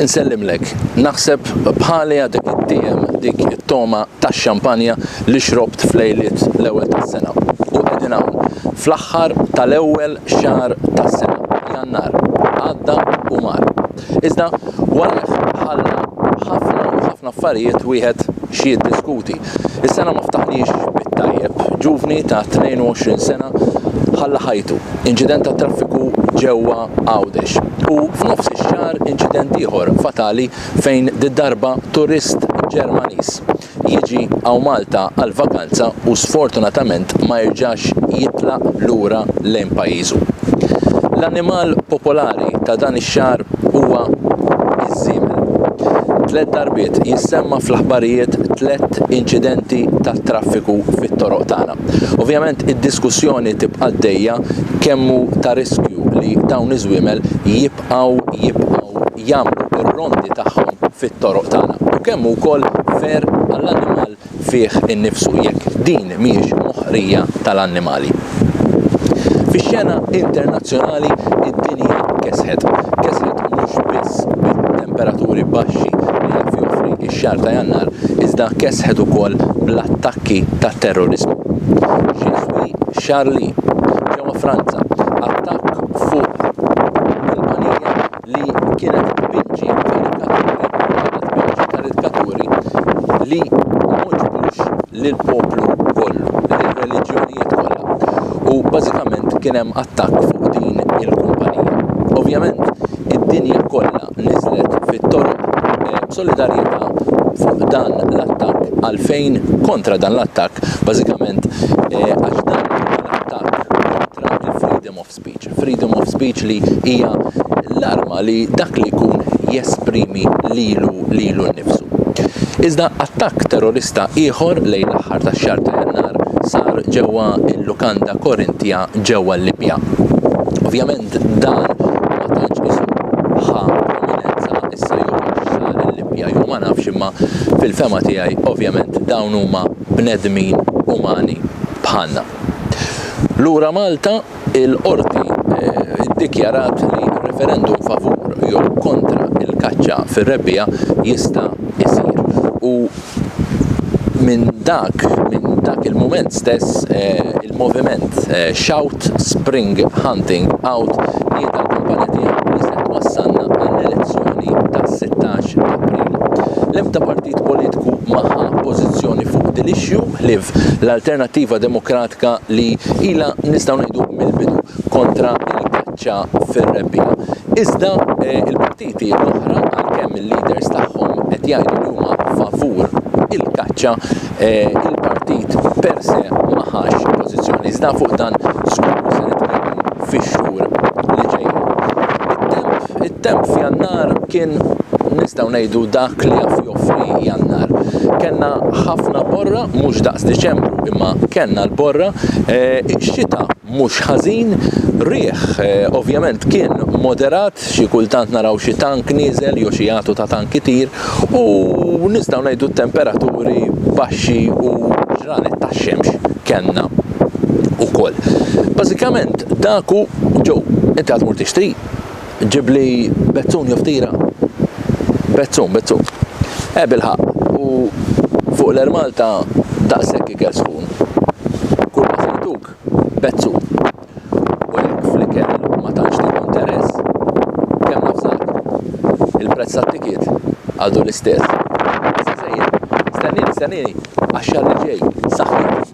Insellimlek, naħseb bħali għadek it-tiem dik it-toma tax-xampanja li xrobt f'lejliet l-ewwel tas-sena. U qegħdin hawn, fl-aħħar tal-ewwel xahar tas-sena, Jannar, għadda u mar. Iżda warajh ħalla ħafna u ħafna affarijiet wieħed xi jiddiskuti. Is-sena ma ftaħniex bit-tajjeb. Ġuvni ta' 22 sena ħalla ħajtu. Inċident ta' traffiku ġewwa Għawdex. U f'nofs ix-xahar inċident ieħor fatali fejn did-darba turist Ġermaniż jiġi hawn Malta għall-vakanza u sfortunatament ma jerġax jitlaq lura lejn pajjiżu. L-annimal popolari ta' dan ix-xahar huwa iż-żiemel. Tliet darbiet jissemma fl-aħbarijiet tliet inċidenti tat-traffiku fit-toroq tagħna. Ovvjament id-diskussjoni tibqa' għaddejja kemm hu ta' riskju li dawn iż-żwiemel jibqgħu jibqgħu jibqgħu jagħmlu r-rondi tagħhom fit-toroq tagħna. U kemm hu wkoll fer għall-annimal fih innifsu jekk din mhijiex moħqrija tal-annimali. Fix-xena internazzjonali id-dinja kesħet. Kesħet mhux biss bit-temperaturi baxxi li qed joffri x-xahar ta' Jannar, iżda kesħet ukoll bl-attakki tat-terroriżmu. Xi żwi Charlie, ġewwa Franza, attakk fuq kumpanija li kienet tpinġi karikaturi li ma għoġbux lill-poplu kollu, lill-reliġjonijiet kollha. U bażikament kien hemm attakk fuq din il-kumpanija. Ovvjament, id-dinja kollha niżlet fit-toroq eh, b'solidarjetà fuq dan l-attakk għalfejn kontra dan l-attakk bażikament eh, għax dan of speech, freedom of speech li hija l-arma li dak li jkun jesprimi lilu lilu nnifsu. Iżda attakk terrorista ieħor lejn l-aħħar tax-xahar ta' Jannar sar ġewwa l-lukanda Korintja ġewwa l-Libja. Ovvjament dan ma tantx isu ħa prominenza issa jew għax sar il-Libja jew ma nafx imma fil-fema tiegħi ovvjament dawn huma bnedmin umani bħalna. Lura Malta, il-Qorti ddikjarat li referendum favur jew kontra l-kaċċa fir-rebbiegħa jista' jsir u minn dak minn dak il-mument stess il-moviment Shout Spring Hunting Out li ta' l-kampanja tiegħu li se twassalna għall-elezzjoni tas-16 ta' April. L-ebda partit politiku ma ħa pożizzjoni fuq dil-issue, ħlief l-Alternattiva Demokratka li ilha nistgħu ngħidu mill-bidu kontra l-kaċċa fir-rebbiegħa. Iżda eh, il-partiti l-oħra għalkemm il-leaders tagħhom qed jgħidu li huma favur il-kaċċa, eh, il-partit per se ma ħax pożizzjoni. Iżda fuq dan żgur se nitkellmu fix-xhur Temp f'Jannar kien nistgħu ngħidu dak li jaf joffri Jannar. Kellna ħafna borra, mhux daqs Diċembru, imma kellna l-borra, eh, xita mhux ħażin, riħ eh, ovvjament kien moderat, xi kultant naraw xi tank nieżel jew xi għatu ta' tank itir u nistgħu ngħidu t-temperaturi baxxi u ġranet tax-xemx kellna ukoll. Bażikament daku ġew inti għad mur tixtri Ġibli bezzun jew ftira? Bezzun, bezzun. Eh bilħaq, u fuq l-Air Malta daqshekk ikel sħun. Kull ma sejtuk, bezzun. U jekk fl-ikel ma tantx tieħu interess, kemm nafżak. Il-prezz tat-tikiet għadu l-istess. Issa sejjer, stennini, stennini, għax-xahar li ġej, saħħiet.